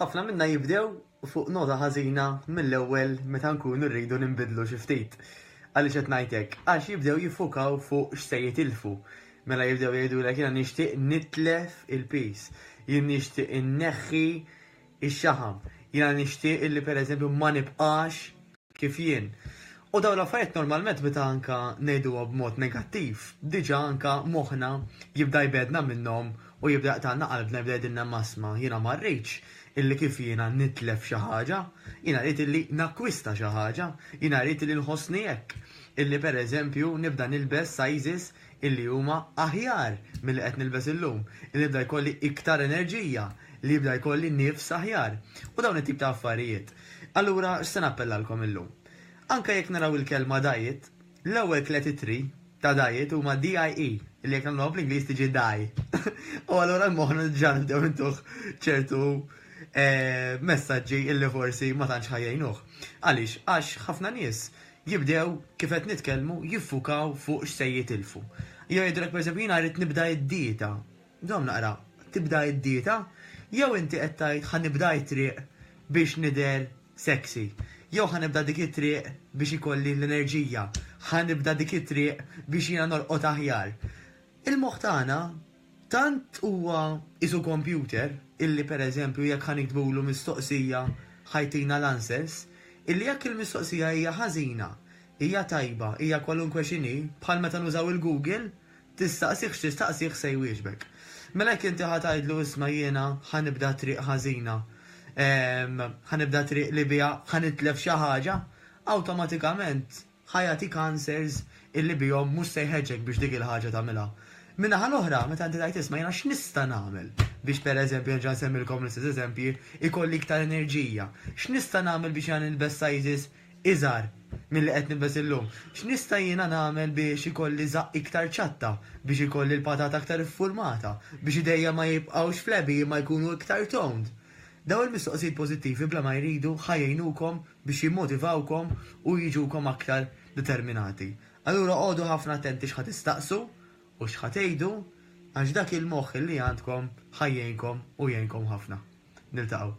Ħafna minna jibdew fuq nota ħażina mill-ewwel meta nkunu rridu ninbidlu xi ftit. Għaliex qed ngħid hekk? Għax jibdew jiffukaw fuq x'se jitilfu. Mela jibdew jgħidulek jiena nixtieq nitlef il-piż, jien nixtieq inneħħi x-xaħam, jiena nixtieq illi pereżempju ma nibqax kif jien. U dawn l-affarijiet normalment meta anke ngħiduhom b'mod negattiv, diġà anke moħħna jibda jbegħedna minnhom u jibda jaqtagħlna qalbna, jibda jgħidilna m'asma' jiena ma rridx illi kif jiena nitlef xi ħaġa, jiena rrid illi nakkwista xi ħaġa, jiena rrid illi nħossni hekk, illi pereżempju nibda nilbes sizes illi huma aħjar milli qed nilbes illum, illi nibda jkolli iktar enerġija, li jibda jkolli nifs aħjar. U dawn it-tip ta' affarijiet. Allura x'se nappellalkom illum? Anke jekk naraw il-kelma diet, l-ewwel tliet ittri ta' diet huma DIE, li jekk nagħmluha bl-Ingliż tiġi die. U allura moħħna diġà nibdew intuh ċertu messaġġi li forsi ma tantx ħa jgħinuh. Għaliex? Għax ħafna nies jibdew kif qed nitkellmu jiffukaw fuq x'se jitilfu. Jew jgħidulek pereżempju jiena rrid nibda d-dieta. Dom naqra, tibda id-dieta? Jew inti qed tgħid ħa nibda t-triq biex nidher sexy? Jew ħa nibda dik it-triq biex ikolli l-enerġija? Ħa nibda dik it-triq biex jiena norqod aħjar? Il-moħħ tagħna tant huwa qisu kompjuter illi pereżempju jekk ħa niktbulu mistoqsija ħa jtina l-answers, illi jekk il-mistoqsija hija ħażina, hija tajba, hija kwalunkwe x'inhi, bħal meta nużaw il-Google, Tistaqsih x'tistaqsih se jwieġbek. Mela jekk inti ħa tgħidlu isma' jiena ħa nibda triq ħażina, ħa nibda triq li biha ħa nitlef xi ħaġa, awtomatikament ħa jagħtik answers illi bihom mhux se jħeġġek biex dik il-ħaġa tagħmilha. Min-naħa l-oħra, meta inti tgħid isma' jiena x'nista' nagħmel biex pereżempju, nerġa' nsemmilkom l-istess eżempji, ikolli iktar enerġija? X'nista' nagħmel biex jiena nilbes sizes iżgħar milli qed nilbes illum. X'nista' jiena nagħmel biex ikolli żaqq iktar ċatta, biex ikolli l-patata aktar iffurmata, biex idejja ma jibqgħux flabby imma jkunu iktar toned? Dawn il-mistoqsijiet pożittivi bla ma jridu ħa jgħinukom biex jimmotivawkom u jiġukom aktar determinati. Allura qogħdu ħafna attenti x'ħa tistaqsu u x'ħa tgħidu għax dak il-moħħ li għandkom ħa jgħinkom u jgħinkom ħafna. Niltaqgħu.